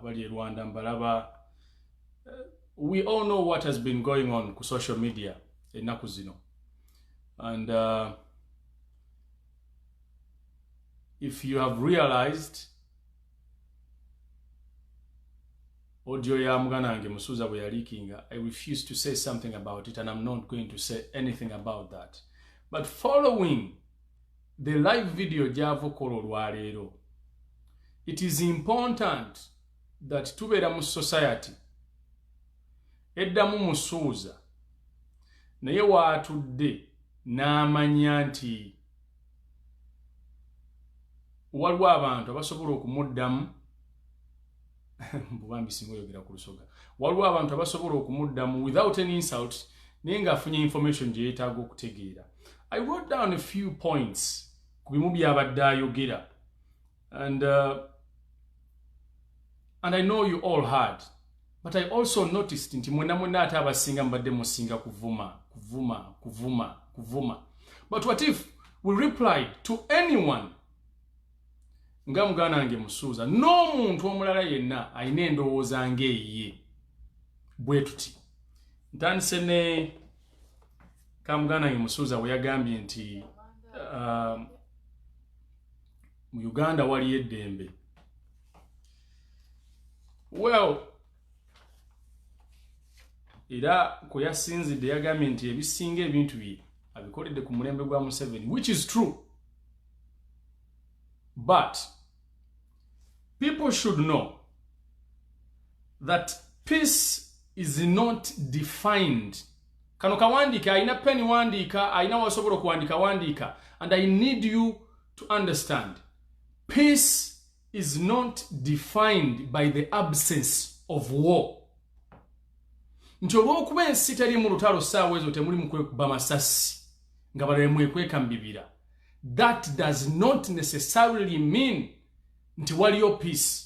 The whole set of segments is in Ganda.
abali e rwanda mbalaba eh, we all know what has been going on ku social media ennaku zino and uh, if you have realized audio ya muganange musuza bwe yalikinga i refuse to say something about it and i'm not going to say anything about that but following the live video gyava okola olwaleero it is important that tubeera mu society Edda mumusuuza naye waatudde n'amanya nti waliwo abantu abasobola okumuddamu bubambi singa oyogera ku lusoga waliwo abantu abasobola okumuddamu without any insult naye ng'afunye information gye yeetaaga okutegeera i wrote down a few points ku bimu by'abadde ayogera And, uh, and I know you all heard, but I also noticed nti mwena mwena ate abasinga mbadde musinga kuvuma, kuvuma, kuvuma, kuvuma. But what if we reply to anyone nga mugana nge musuuza n'omuntu omulala yenna alina endowooza ngaeyiye bwe tuti ntandise ne kamuganda nge musuuza weyagambye nti um, mu uganda waliyo eddembe well era kwe yasinzidde yagambye nti ebisinga ebintu bye abikoledde ku mulembe gwa museveni which is true but people should know that peace is not defined kano kawandiika alina peni wandiika alina wasobola okuwandiika wandiika and i need you to understand peace is not defined by the absence of war nti olwokuba ensi teri mu lutalo saawa ezo temuli mukwekuba masasi nga balale mwekweka mu bibira that does not necessarily mean nti waliyo peace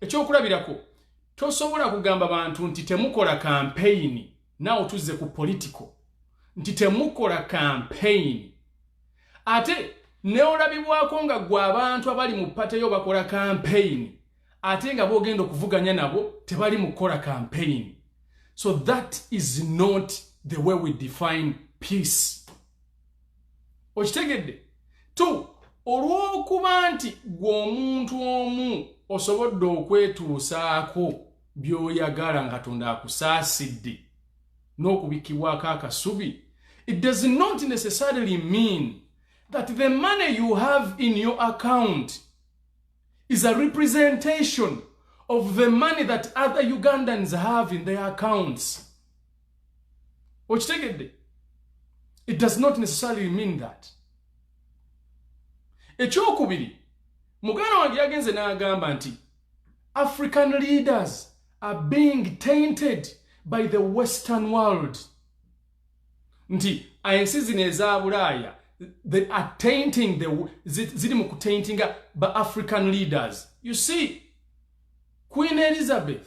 ekyokulabirako tosobola kugamba bantu nti temukola kampeyini nawe tuzze ku political nti temukola kampeyini ate neolabibwako nga gwe abantu abali mu pateyo bakola kampeyini ate nga bogenda okuvuganya nabo tebali mu kukola kampeyini so that is not the way we define peace okitegedde tu olw'okuba nti gwe omuntu omu osobodde okwetuusaako by'oyagala nga katonda akusaasidde n'okubikkibwako akasubi it does not necessarily mean that the money you have in your account is a representation of the money that other ugandans have in their accounts okitegedde it does not necessarily mean that ekyokubiri muganda wange yagenze n'agamba nti african leaders are being tainted by the western world nti ensi zino eza bulaaya they are tainting the ziri mu kutaintinga ba african leaders you see queen elizabeth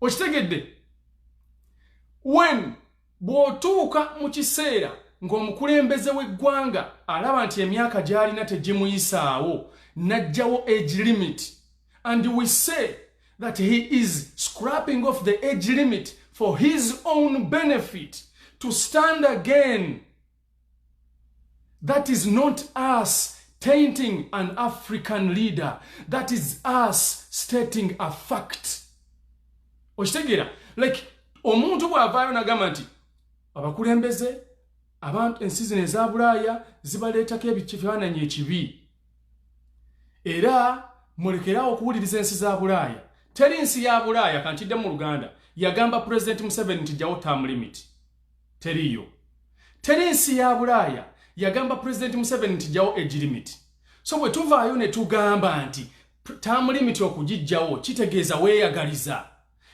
okitegedde wen bw'otuuka mu kiseera ng'omukulembeze w'eggwanga alaba nti emyaka gy'alina tegimuyisaawo n'ajjawo age limit and we say that he is scrapping off the age limit for his own benefit to stand again That is not us tainting an African leader. That is us stating a fact. Oshitegera, like, omuntu bwavayo nagamba nti abakulembeze abantu ensi zino eza bulaaya zibaleetako ebikifaananyi ekibi era mulekerawo okuwuliriza ensi za bulaaya teri nsi ya bulaaya kantidde mu luganda yagamba pulezidenti museveni nti jawo term limit teriiyo teri nsi ya bulaaya yagamba pulezidenti museveni nti jawo egirimiti so bwe tuvaayo ne tugamba nti tamulimiti okugijjawo kitegeeza weeyagaliza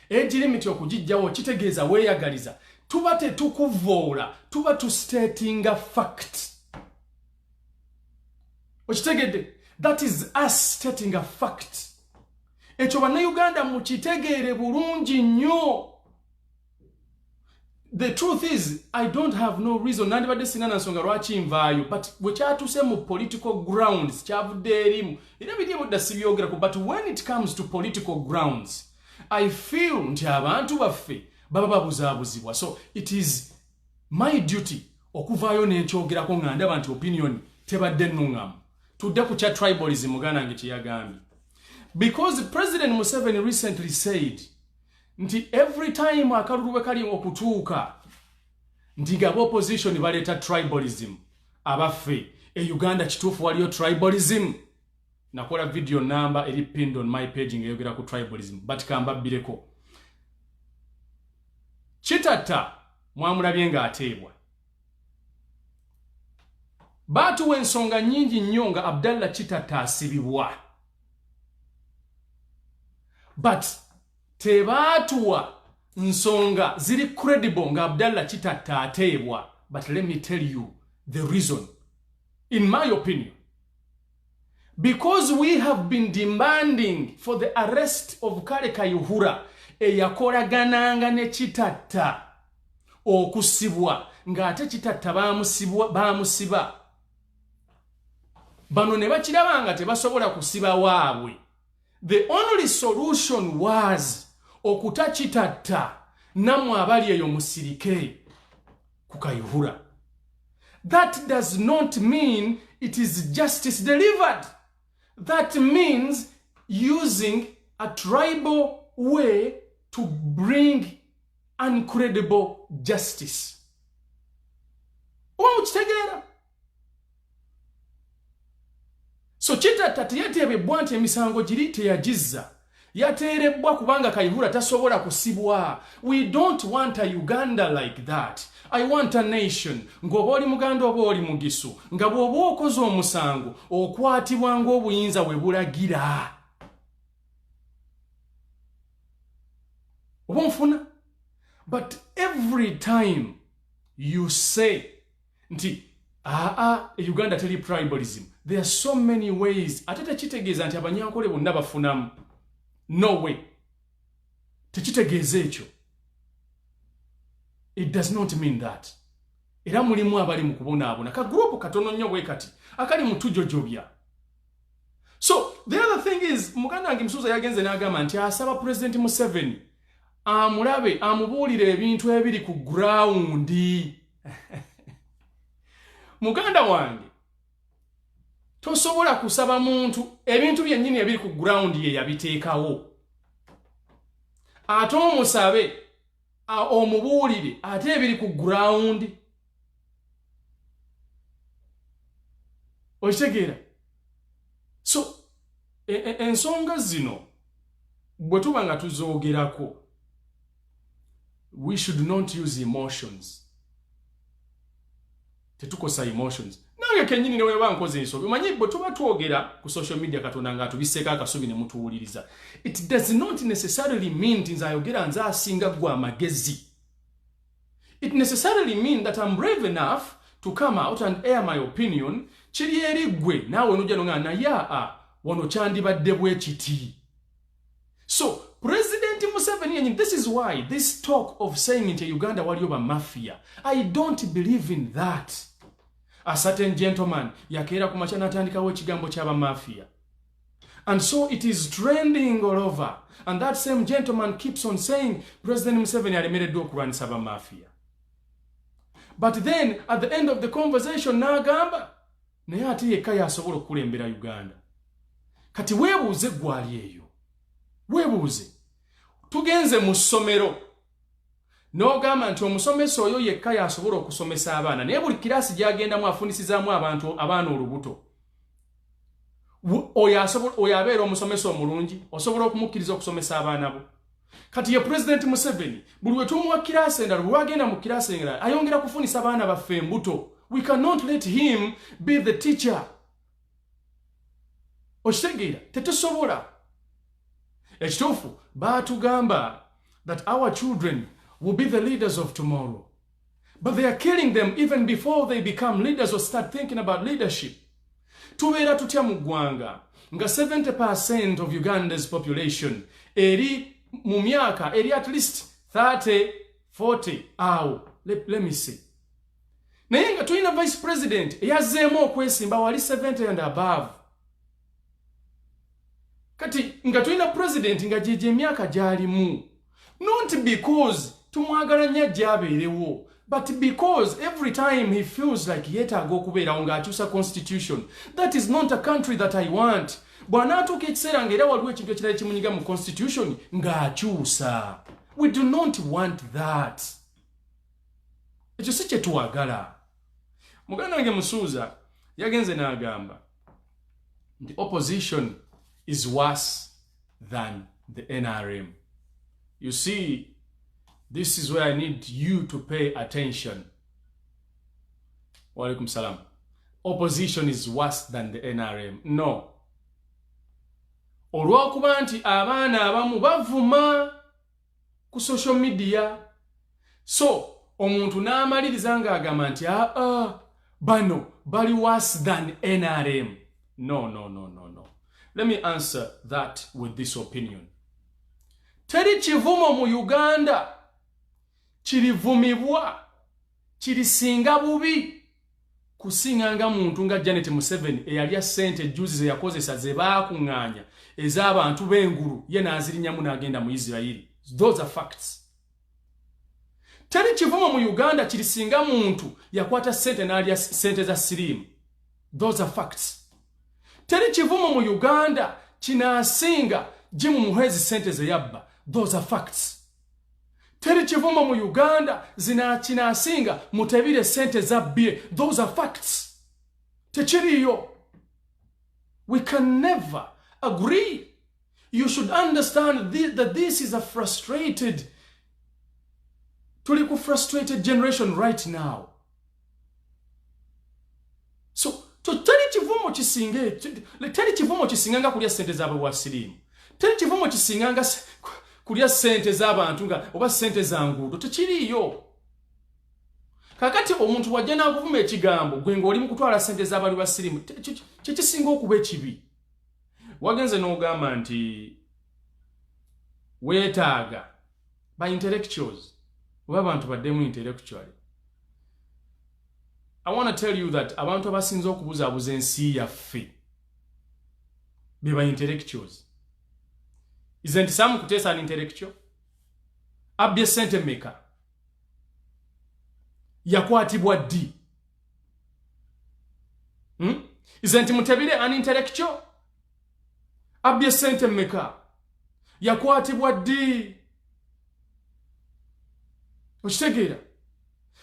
egirimiti okugijjawo kitegeeza weeyagaliza tuba tetukuvoola tuba tustatinga fact okitegedde that is us stating a fact ekyo bannayuganda mukitegeere bulungi nnyo the truth is i don't have no reason nandibadde sina nansonga lwaki nvaayo but bwekyatuse mu political grounds kyavudde erimu era biri ebudda sibyogerako but when it comes to political grounds i feel nti abantu baffe baba babuzaabuzibwa so it is my duty okuvaayo nenkyogerako nga ndaba nti opinion tebadde nuŋŋamu tudde ku kya tribalism muganda nge kyeyagambye because president museveni recently said nti every time akalulu bwe kali okutuuka nti ngaba opposition baleeta tribalism abaffe e uganda kituufu waliyo tribalism nakola video namba eri pinned on my page ngeyogera ku tribalism but kambabbireko kitatta mwamulabye ng'ateebwa baatuwa ensonga nyingi nnyo nga abdallah kitatta asibibwa but tebaatuwa nsonga ziri credible nga abdalla kitatta ateebwa but let me tell you the reason in my opinion because we have been demanding for the arrest of kale kayuhura eyakolagananga ne kitatta okusibwa ng'ate kitatta bamusiba bano ne bakiraba nga tebasobola kusiba waabwe the only solution was okuta kitatta namwe abali eyo musirike kukayuhura that does not mean it is justice delivered that means using a tribal way to bring uncredible justice oba mukitegeera so kitatta teyateebebbwa nti emisango giri teyagizza yateerebbwa kubanga kaihura tasobola kusibwa we don't want a uganda like that i want a nation ng'oba oli muganda oba oli mugisu nga bw'oba okoze omusango okwatibwa ng'obuyinza we bulagira oba onfuna but every time you say nti aa e uganda teri tribalism there are so many ways ate tekitegeeza nti abanyankole bonna bafunamu no way tekitegeeza ekyo it does not mean that era mulimu abali mu kubonaabona ka gurupu katono nnyo bwe kati akali mutujojobya so the other thing is muganda wange musuuza yagenze n'agamba nti asaba pulezidenti museveni amulabe amubuulire ebintu ebiri ku gurawundi muganda wange tosobola kusaba muntu ebintu byennyini ebiri ku gurawundi ye yabiteekawo ate omusabe omubuulire ate ebiri ku gurawundi okitegeera so e, e, ensonga e, zino bwe tuba nga tuzoogerako we should not use emotions tetukosa emotions nange kenyini neweba nkoze ensobi omanyi bwe tuba twogera ku social media katonda nga atubiseeko akasubi ne mutuwuliriza it does not necessarily mean nti nze ayogera nze asinga gwe amagezi it necessarily mean that I'm brave enough to come out and air my opinion kiri eri gwe naawe nojja nonga naye a wano kyandibadde bwe kiti so president museveni yenyini this is why this talk of saying nti uganda waliyo ba mafia i don't believe in that a certain gentleman yakeera ku makya natandikawo ekigambo kyaba mafia And so it is trending all over. And that same gentleman keeps on saying, President Museveni alemereddwa okulwanyisa ba mafia. But then at the end of the conversation n'agamba naye ate yekka y'asobola okukulembera Uganda. Kati weebuuze gwali eyo. Weebuuze. Tugenze mu ssomero. N'ogamba nti omusomesa oyo yekka y'asobola okusomesa abaana naye buli kiraasi gy'agendamu afunisizaamu abantu abaana olubuto. Oyo abeera omusomesa omulungi osobola okumukkiriza okusomesa abaana bo. Kati ye Pulezidenti Museveni buli we tumuwa kiraasi endala bwe wagenda mu kiraasi endala ayongera kufunisa baana baffe embuto. We cannot let him be the teacher. okitegeera tetusobola ekituufu baatugamba that our children will be the leaders of tomorrow but they are killing them even before they become leaders or start thinking about leadership tubeera tutya mu ggwanga nga 70 percent of uganda's population eri mu myaka eri at least 30 40 awo let, let me see naye nga tulina vice president eyazzeemu okwesimba wali 70 and above kati nga tulina president nga gyegyo emyaka gyalimu not because tumwagala nnyo ajja abeerewo but because every time he feels like yeetaaga okubeerawo ng'akyusa constitution that is not a country that i want bw'anaatuuka ekiseera nga era waliwo ekintu ekirala ekimunyiga mu constitution ng'akyusa we do not want that ekyo si kye twagala muganda wange musuuza yagenze n'agamba nti opposition is worse than the nrm you see this is where i need you to pay attention waalaikum salam opposition is worse than the nrm no olw'okuba nti abaana abamu bavuma ku social media so omuntu n'amaliriza ng'agamba nti aa ah, ah, bano bali worse than nrm no no no no no let me answer that with this opinion teri kivumo mu uganda kirivumibwa Kirisinga bubi kusinga nga muntu nga Janet Museveni eyalya ssente ejjuuzi ze yakozesa ze baakung'anya ez'abantu b'engulu ye n'azirinnyamu n'agenda mu Isirayiri. Those are facts. Teri kivumo mu Uganda kirisinga muntu yakwata ssente n'alya ssente za siriimu. Those are facts. Teri kivumo mu Uganda kinaasinga gimu muhwezi ssente ze yabba. Those are facts. teri kivumo mu uganda zinakinasinga mutebire sente zabbye those are facts tekiriyo we can never agree you should understand this, that this is a frustrated tuli ku frustrated generation right now so teri kivumo kisinga teri kivumo kisinga nga kulya sente zabwe wa sirimu teri kivumo kisinga nga kulya sente zabantu nga oba sente za nguudo tekiriiyo kakati omuntu wajja nakuvuma ekigambo gwe ngaoli mukutwala sente zabali ba sirimu kyekisinga okuba ekibi wagenze nogamba nti wetaaga ba intellectuals oba abantu baddemu intellectually i want to tell you that abantu abasinza okubuzaabuza ensi yaffe be ba intellectuals isn't sam kuteesa an intellectual abbye sente meka yakwatibwa ddi hmm? isn't mutebire an intellectual abbye ssente mmeka yakwatibwa ddi okitegeera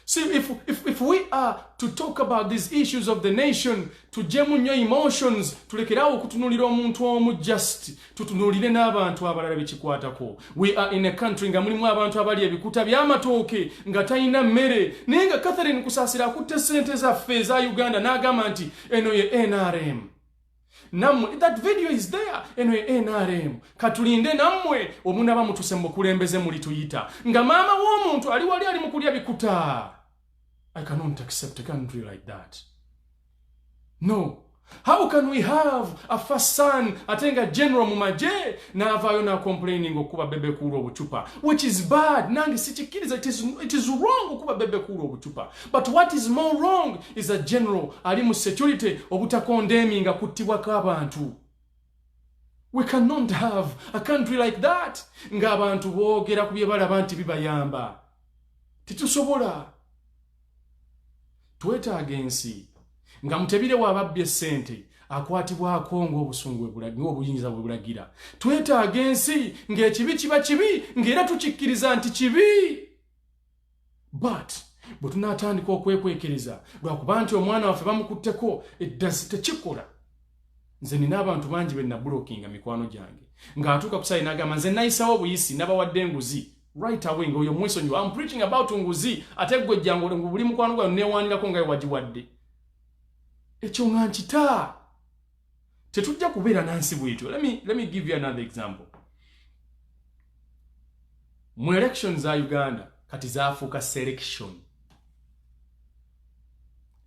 See, if, if, if we are to talk about these issues of the nation, tujemu nyo emotions, tulekera okutunulira omuntu omu just, tutunulire n'abantu abalala bikikwatako. We are in a country nga mulimu abantu abali ebikuta by'amatooke nga talina mmere. Naye nga Catherine Kusasira akutte ssente zaffe eza Uganda n'agamba nti eno ye NRM. namwe that video is there eno e nrm katulinde namwe omunaba mutuse mukulembeze muli tuyita nga maama w'omuntu ali wali ali mukulya bikuta i cannot accept a country like that no how can we have a first son ate nga general mu magye n'avaayo nacomplaining okuba bebekuula obucupa which is bad nange sikikkiriza it is wrong okuba bebekuula obucupa But what is more wrong is a general ali mu security obutakondeemi nga kuttibwa k'abantu. We cannot have a country like that nga abantu boogera ku bye balaba nti bibayamba. Titusobola. Twetaaga ensi nga mutebire w'ababbye ssente akwatibwako ng'obusungu ng'obuyinza bwe bulagira. Twetaaga ensi ng'ekibi kiba kibi ng'era tukikkiriza nti kibi. but bwe tunaatandika okwekwekereza lwakuba nti omwana waffe bamukutteko eddasi tekikola nze nina abantu bangi be nabulokinga mikwano gyange ng'atuuka kusaali nagamba nze nayisawo obuyisi nabawadde enguzi right away ngaoyo mwesonyiwa am preaching about nguzi ate gwe jjangu ngu buli mukwano gwayo newanirako ngayo wagiwadde ekyo nga nkitaa tetujja kubeera nansi bwetyo let me, let me give you another example mu election za uganda kati zafuuka selection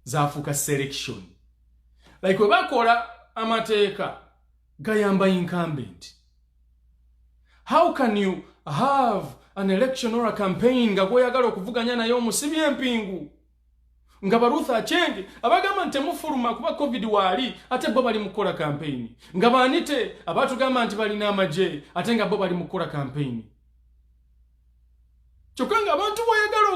zafuuka selection like webakola amateeka gayamba incumbent how can you have an election or a campaign nga gwoyagala okuvuganya naye omusibi empingu nga baruth achenge abagamba nti temufuluma kuba covid waali ate bo bali mukukola kampeyini nga baanite abatugamba nti balina amagye ate nga bo bali mukukola kampeyini kyokka nga abantu boyagala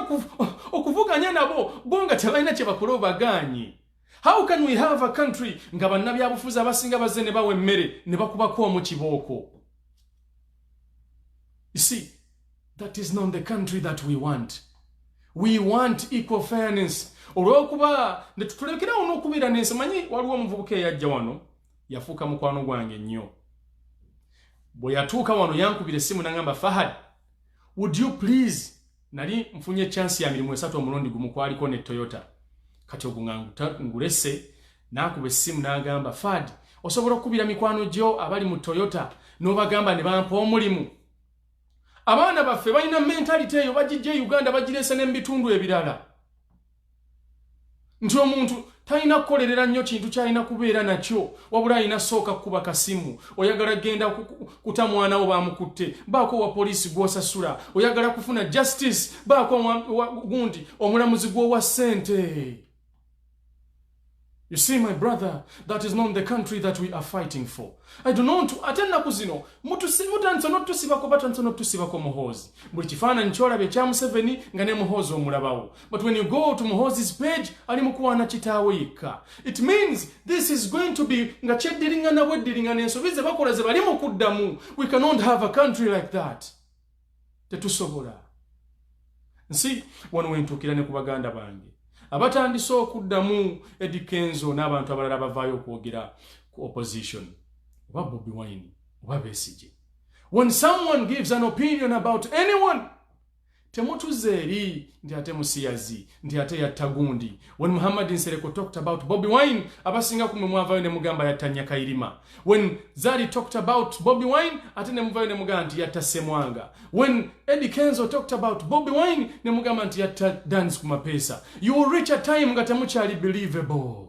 okuvuganya nabo bo nga tebalina kyebakola obagaanyi how can we have a country nga bannabyabufuzi abasinga bazze ne bawa emmere ne bakubako omu kibooko isi That is not the country that we want. We want equal fairness. Olwokuba ne tutulekera ono okubira nensi manyi waliwo omuvubuka eyajja wano yafuuka mukwano gwange nnyo. Bwe yatuuka wano yankubira essimu nangamba Fahad, would you please nali nfunye chance ya mirimu esatu omulundi gumu kwaliko ne Toyota. Kati ogwo nga ngulese nakuba essimu nagamba Fahad osobola okukubira mikwano gyo abali mu Toyota n'obagamba ne bampa omulimu. abaana baffe balina mentality eyo bagijja e uganda bagirese ne mubitundu ebirala nti omuntu talina kukolerera nnyo kintu kyalina kubeera nakyo wabula alina sooka kukuba kasimu oyagala genda kuta mwana wo bamukutte baako wa poliisi gwosasula oyagala kufuna justice baako gundi omulamuzi gwowa ssente You see my brother, that is not the country that we are fighting for. I do not ate ennaku zino mutandisa notusibako batandisa notusibako muhoozi buli kifaananyi kyolaba ekya museveni nga ne muhoozi omulabawo but when you go to muhoozi's page ali mukuwaana kitaawe yekka it means this is going to be nga kyeddiringana bweddiringana ensobi ze bakola ze bali mu kuddamu we cannot have a country like that tetusobola nsi wano wentuukira ne ku baganda bange abatandise okuddamu edikenzo n'abantu abalala bavaayo okwogera ku opposition oba bobi wine oba besigye when someone gives an opinion about anyone temutuze eri nti ate musiyazi nti ate yatta gundi when muhammad nsereko talked about bobi wine abasinga kumwe mwavayo ne mugamba yatta nyakayirima when zari talked about bobi wine ate ne muvayo ne mugamba nti yatta semwanga when eddie kenzo talked about bobi wine ne mugamba nti yatta dance ku mapesa you will reach a time nga temukyali believable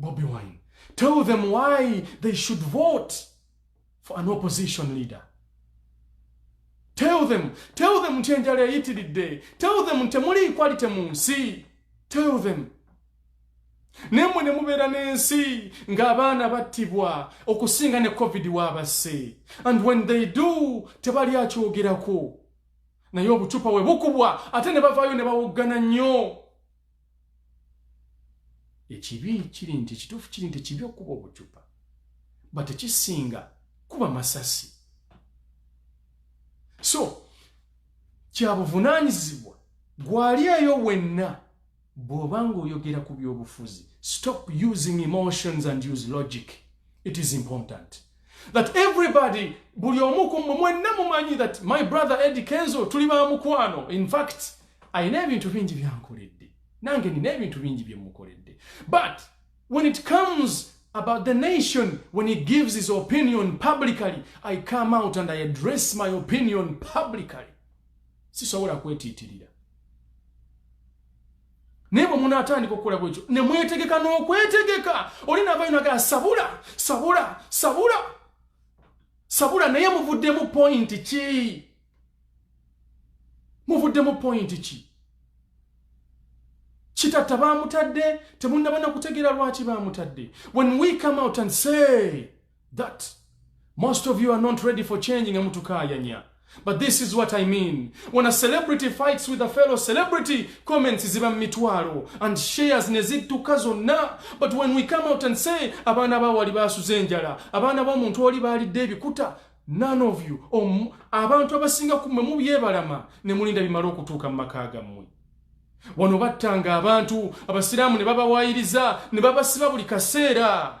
Bobi Wine. Tell them why they should vote for an opposition leader. Tell them, tell them nti enjala eyitiridde. Tell them nti temuli equality mu nsi. Tell them. Nemwe ne mubeera n'ensi ng'abaana battibwa okusinga ne covid waabasse. And when they do, tebali akyogerako. Naye obucupa we bukubwa ate ne bavaayo ne bawoggana nnyo. ekibi kiri nti ekituufu kiri nti ekibi okuba obucupa but ekisinga kuba masasi so kyabuvunaanyizibwa gwali eyo wenna bw'oba ng'oyogera ku by'obufuzi stop using emotions and use logic it is important that everybody buli omu ku mmwe mwenna mumanyi that my brother edi kenzo tuli ba mukwano in fact alina ebintu bingi byankoledde nange nina ebintu bingi bye mukoledde but when it comes about the nation when he gives his opinion publicly i come out and i address my opinion publicly sisobola kwetiitirira naye bwe munaatandika okukola bwekyo ne mwetegeka n'okwetegeka oli naavayo nagala sabula sabula sabula sabula naye muvuddemu pointi ki muvuddemu pointi ki kitatta baamutadde temunnabana kutegeera lwaki baamutadde when we come out and say that most of you are not ready for change nga mutukaayanya but this is what i mean when a celebrity fights with a fellow celebrity comments ziba mitwalo and shares ne zittuka zonna but when we come out and say abaana ba wali baasuze enjala abaana b'omuntu oli baalidde ebikuta none of you om abantu abasinga kumwe mubyebalama ne mulinda bimala okutuuka mu maka gammwe wano battanga abantu abasiraamu ne babawaayiriza ne babasiba buli kaseera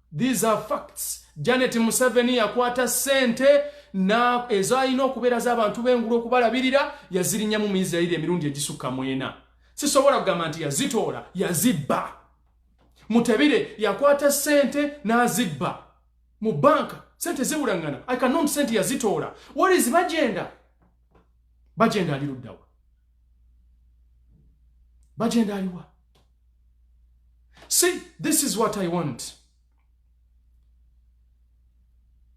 These are facts. Janet Museveni yakwata sente na ezo alina okubeera z'abantu b'engulu okubalabirira yazirinyamu mu Isirairi emirundi egisukka mwena. Sisobola kugamba nti yazitoola, yazibba. Mutebire yakwata sente n'azibba mu banka sente ziwulangana i cannot sente yazitoola what is bagenda bagenda ali luddawa bagenda aliwa see this is what i want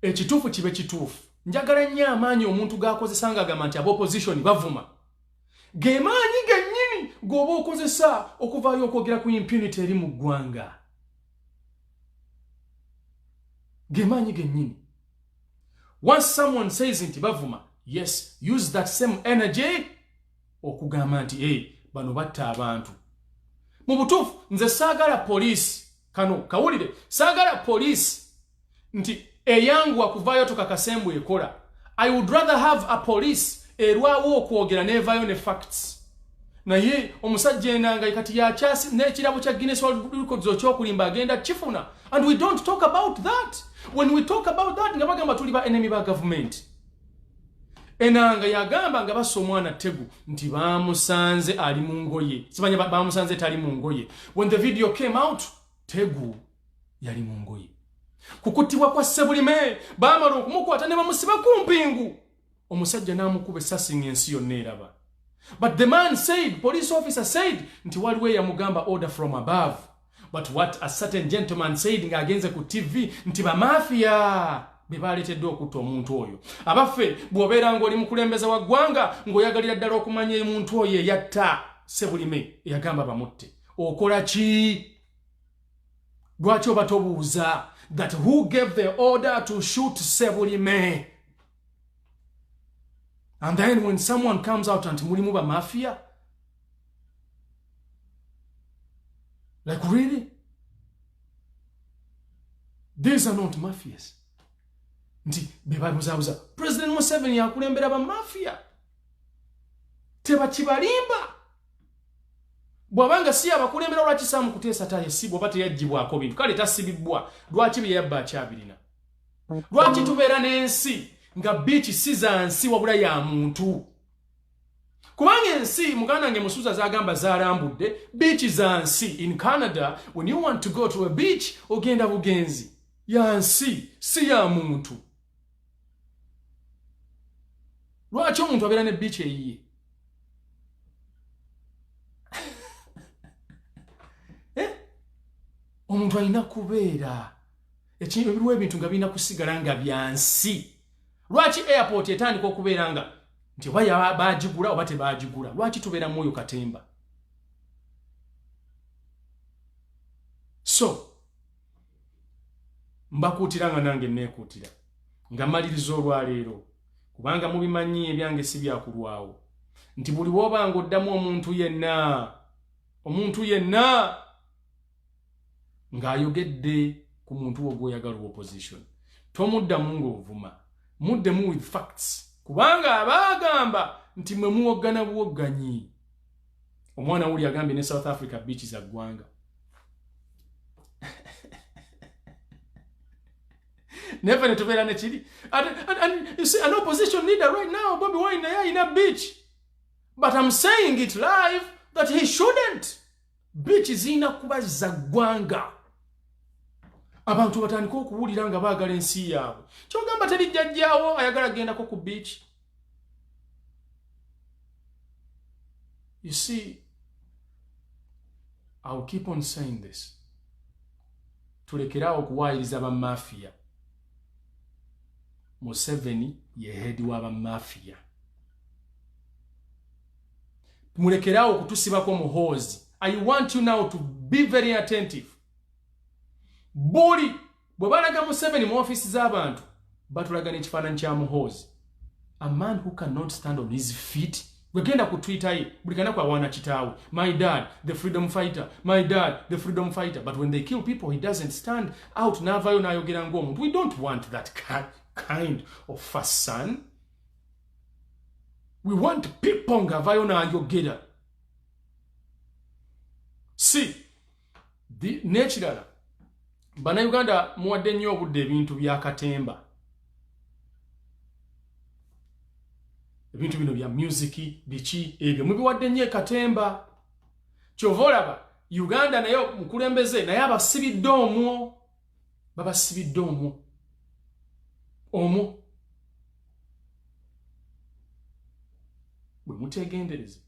ekituufu kibe kituufu njagala nnyo amaanyi omuntu g'akozesa nga agamba nti abaopposition bavuma ge maanyi gennyini g'oba okozesa okuvaayo okwogera ku impunity eri mu ggwanga ge maanyi gennyini once someone says nti bavuma yes use that same energy okugamba nti e bano batta abantu mu butuufu nze saagala poliisi kano kawulire saagala poliisi nti eyanguwa kuvaayo tukakasembwe ekola i would rather have a police erwawo okwogera nevayo ne facts naye omusajja enanga kati yakyasi nekirabo kya Guinness World Records okyokulimba agenda kifuna and we don't talk about that when we talk about that nga bagamba tuli ba enemy ba government Enanga yagamba nga basa omwana Tegu nti baamusanze ali mu ngoye. Sibanya baamusanze tali mu ngoye. When the video came out, Tegu yali mu ngoye. Kukutibwa kwa Sebulime baamala okumukwata ne bamusiba ku mpingu. Omusajja n'amukuba essasi ng'ensi yonna eraba. But the man said, police officer said, nti waliwo eyamugamba order from above. but what a certain gentleman said ng'agenze ku tv nti bamafiya be baaleeteddwa okutta omuntu oyo abaffe bw'obeera ng'oli mukulembeza wa ggwanga ng'oyagalira ddala okumanya emuntu oyo eyatta sebulime eyagamba bamutte okola ki lwaki oba tobuuza that who gave the order to shoot sebulime and then when someone comes out anti mulimu bamafiya Like really? These are not mafias. Nti bebabuzabuza. President Museveni yakulembera ba mafia. Teba kibalimba. Bwabanga si abakulembera lwaki samu kutesa taye si bwaba teyajibwa ako bintu. Kale tasibibwa. Lwaki bye yabba akyabirina. Lwaki tubeera n'ensi nga biiki si za nsi wabula ya muntu. kubanga ensi muganda nge musuza zagamba zarambudde beach za nsi in canada when you want to go to a beach ogenda bugenzi ya nsi si ya muntu lwaki omuntu abeera ne beach eyiye eh? omuntu alina kubeera ekintu ebiruwa ebintu nga birina kusigala nga byansi lwaki airport etandika okubeera nga nti oba baagigula oba tebaagigula lwaki tubeera mu oyo katemba so mbakuutira nga nange neekuutira nga maliriza olwaleero kubanga mubimanyi ebyange si byakulwawo nti buli woobanga oddamu omuntu yenna omuntu yenna ng'ayogedde ku muntu wo gwoyagala owa opposition tomuddamu ng'ovuma muddemu with facts kubanga abaagamba nti mwe muwoggana buwogganyi omwana wuli agambye ne south africa biiki za ggwanga neve netubeera nekiri an opposition leader right now bobi wine naye alina beach but am saying it live that he shouldn't biiki zirina kuba za ggwanga abantu batandika okuwulira nga baagala ensi yaabwe kyogamba teri jjajjaawo ayagala gendako ku biiki you see iw keep on saying this tulekeraawo okuwaayiriza bamafiya museveni ye heedi wa bamafiya mulekeraawo okutusibako muhoozi i want you now to be very attentive buli bwe balaga museveni mu ofiisi z'abantu batulaga n'ekifaananyi kya muhoozi a man who cannot stand on his feet gwegenda ku twitter ye buli kanaku awaana kitaawe my dad the freedom fighter my dad the freedom fighter but when they kill people he doesn't stand out n'avaayo n'ayogera ng'omuntu we don't want that kind of first son we want people nga avayo nayogera si nekirala banauganda muwadde nnyo obudde ebintu byakatemba ebintu bino bya musiki biki ebyo mubiwadde nnyo ekatemba kyova olaba uganda naye mukulembeze naye abasibidde omwo babasibidde omu omu bwe mutegendereza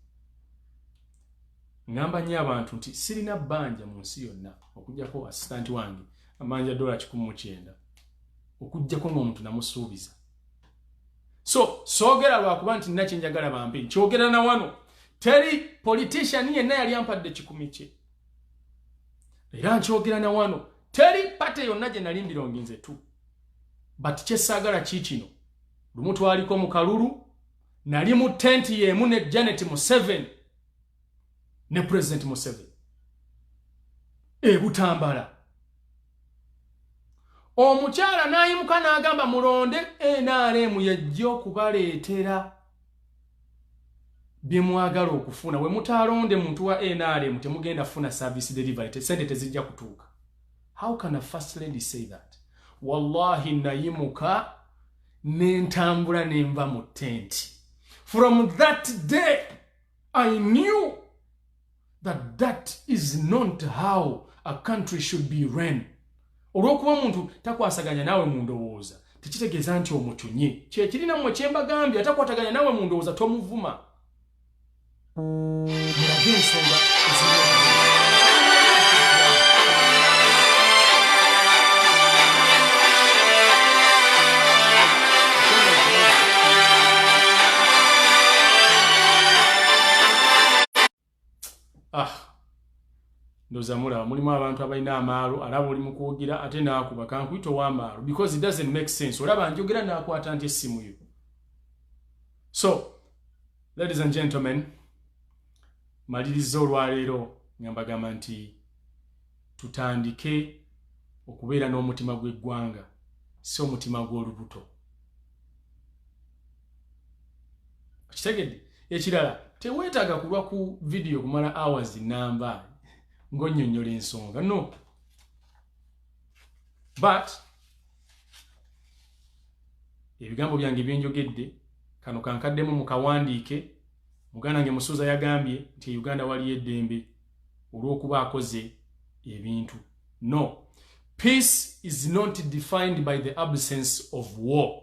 ngamba nnyo abantu nti sirina bbanja mu nsi yonna okujjako asitanti wange amanja dola kikumi mu kyenda okujjako ng'omuntu namusuubiza so soogera lwakuba nti nina kyenjagala bampe nkyogera na wano teri politician yenna yali ampadde kikumi kye era nkyogera na wano teri pate yonna gye nali mbirongi nze tu but kyesaagala ki kino lumu twaliko mu kalulu nali mu tenti y'emu ne janet museven ne president museven ebutambala omukyala n'ayimuka n'agamba mulonde nrm yejja okubaleetera byemwagala okufuna wemutaalonde muntu wa nrm temugenda funa service delivery tesente tezijja kutuuka how can a first lady say that wallahi nayimuka nentambula nenva mu tenti from that day i knew that that is not how a country should be ran olwokuba omuntu takwasaganya naawe mu ndowooza tekitegeeza nti omucunye kyekirina mwe kyembagambye atakwataganya naawe mu ndowooza tomuvuma mulage ensonga ah ndoza mulaba mulimu abantu abalina amaalo alaba oli mukwogera ate naakuba kankuyita owamaalo because it doesn't make sense olaba njogera naakwata nti essimu yo so ladies and gentlemen maliriza olwaleero nga mbagamba nti tutandike okubeera n'omutima gw'eggwanga si omutima gw'olubuto kitegede ekirala teweetaaga kulwa ku vidiyo kumala hours namba ng'onnyonnyola ensonga no but ebigambo byange byenjogedde kano kankaddemu mu kawandiike muganda nge musuuza yagambye nti e uganda waliyo eddembe olw'okuba akoze ebintu no peace is not defined by the absence of war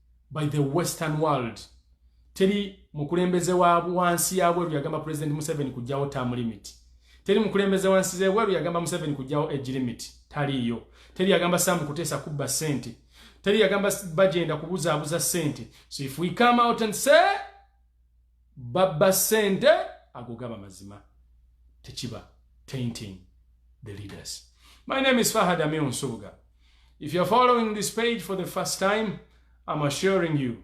by the western world teri mukulembeze wa wansi ya bweru yagamba president museveni kujjawo term limit teri mukulembeze wansi ze bweru yagamba museveni kujjawo age limit taliiyo teri yagamba sam kutesa kubba sente teri yagamba bajenda kubuzaabuza sente so if we come out and say babba sente ago gaba mazima tekiba tainting the leaders my name is fahad amir nsubuga if you're following this page for the first time i'm assuring you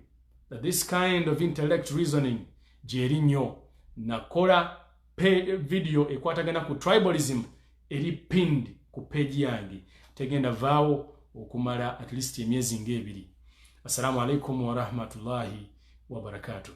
that this kind of intellect reasoning gyeri nnyo nakola video ekwatagana ku tribalism eri pinned ku page yange tegenda vaawo okumala at least emyezi ng'ebiri assalamu alaikum warahmatullahi wabarakatuh